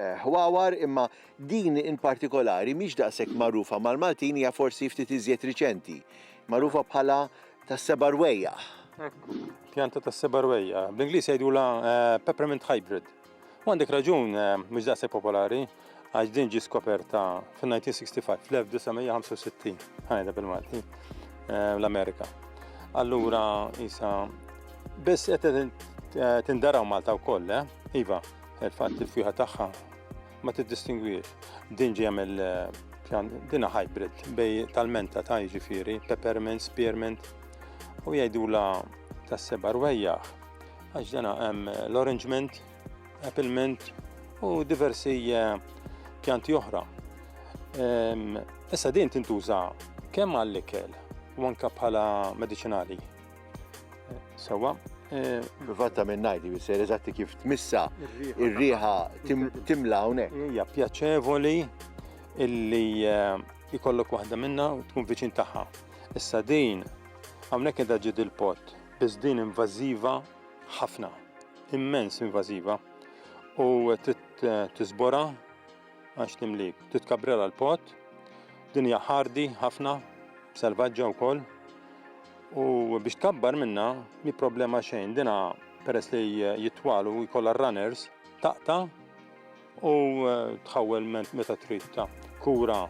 ħwawar imma din in partikolari mhix daqshekk magħrufa mal-Maltin hija forsi ftit iżjed riċenti. Magħrufa bħala tas-seba' rwejjaħ. Ekku, pjanta tas-seba' rwejjaħ. Bl-Ingliż jgħidulha eh, peppermint hybrid. U għandek raġun eh, mhux daqshekk popolari għax din ġi skoperta fin-1965, fl-1965, ħajda bil-Malti, eh, l-Amerika. Allura, isa, biss qed tindaraw Malta wkoll, eh? Iva, Il-fatt li l-fjuħa tagħha ma tiddistingwiex. Din ġejja mill dina hybrid bej tal-menta ta' jiġifieri, peppermint, spearmint u jgħidula tas-seba' rwejjaħ għax dana hemm l-orange mint, apple mint u diversi eh, pjanti oħra. Ehm, issa din tintuża kemm għall-ikel u anke bħala mediċinali. Sawa. Eh, Fatta minn najdi bisser eżatti kif tmissa ir-riħa timla hawnhekk. Hija pjaċevoli illi eh, jkollok waħda minna u tkun viċin tagħha. Issa din hawnhekk qiegħda ġid il-pot, biss din invażiva ħafna, immens invażiva u titbora Għax timlik. Titkabrela l-pot. Dinja ħardi ħafna, selvaġġa wkoll. U biex tkabbar minna, mi problema xejn. Dina peress li jitwalu jkollha runners, taqta u eh, tħawwel meta trid ta' kura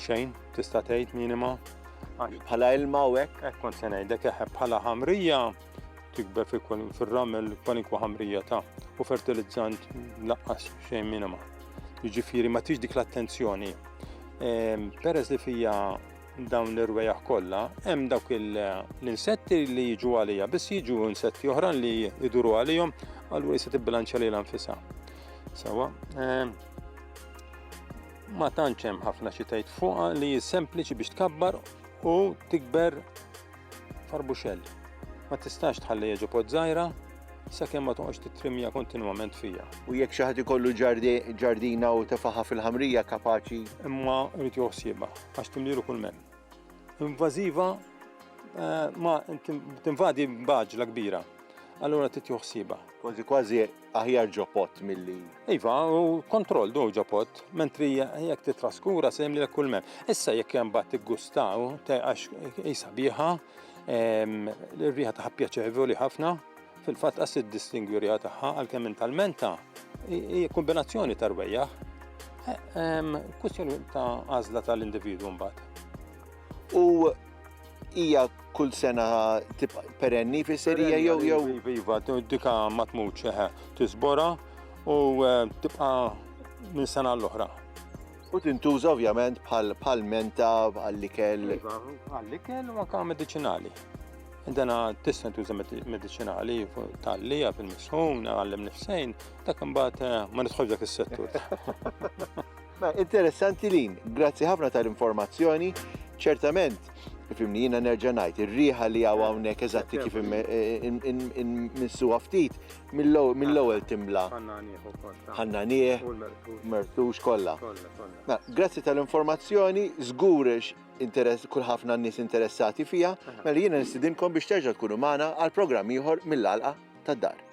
xejn tista' tgħid minima. Bħala ilma u hekk. Hekk kont se ngħidlek bħala ħamrija tikber fir-ramel kwalinkwa ħamrija ta' u fertilizzant laqqas xejn minima. Jiġifieri ma tix dik l-attenzjoni. Ehm, peress li fija dawn l-irwejaħ kollha, hemm dawk l-insetti li jiġu għalija, biss jiġu insetti oħra li jiduru għalihom, allura jista' tibbilanċja lilha nfisha. Sewa, ehm, ma tantx hemm ħafna xi tgħid fuqha li sempliċi biex tkabbar u tikber Tarbuxell. Ma tistax tħalliha ġo pod żgħira sakemm ma toqgħodx tittrimmja kontinwament fiha. U jekk xi ħadd ikollu ġardina u tefaħa fil-ħamrija kapaċi. Imma jrid joħsiebha għax timlielu kull men. Invażiva eh, ma tinvadi b'għaġla kbira. Allura trid joħsiebha. Kważi kważi aħjar ġo pot milli. Iva, u kontroll du ġo pot, mentri jekk titraskura se jemli kull mem. Issa jekk hemm bat tiggustaw, għax jisa biħa, l-riħa taħħa pjaċevoli ħafna, fil-fatt qas id-distingwi riħa taħħa għalkemm minn tal-menta, hija kombinazzjoni tarwejja. Kwistjoni ta' għażla tal-individwu mbagħad. U Hija kull sena tibqa' perenni fis-serija jew jew. Iva, dika ma tmutx eħe, tiżbora u eh, tibqa' minn sena l-oħra. U tintuża ovvjament bħal menta għall-ikel. Iva, għall-ikel u anka medicinali. Dana tista' tuża medicinali tal-lija fil-misħun, għallem nifsejn, dak imbagħad eh, ma nidħol dak is-settur. Ma interessanti Lin, grazzi ħafna tal-informazzjoni. Ċertament, fimni jina nerġa' ngħid, ir-riħa li hawn hawnhekk eżatti kif minsuha ftit mill-ewwel timla. Ħanna nieħ, mertux kollha. Grazzi tal-informazzjoni, żgur interess kull ħafna nies interessati fija, mela jiena nistidinkom biex terġa' tkunu magħna għal programm ieħor mill-għalqa tad-dar.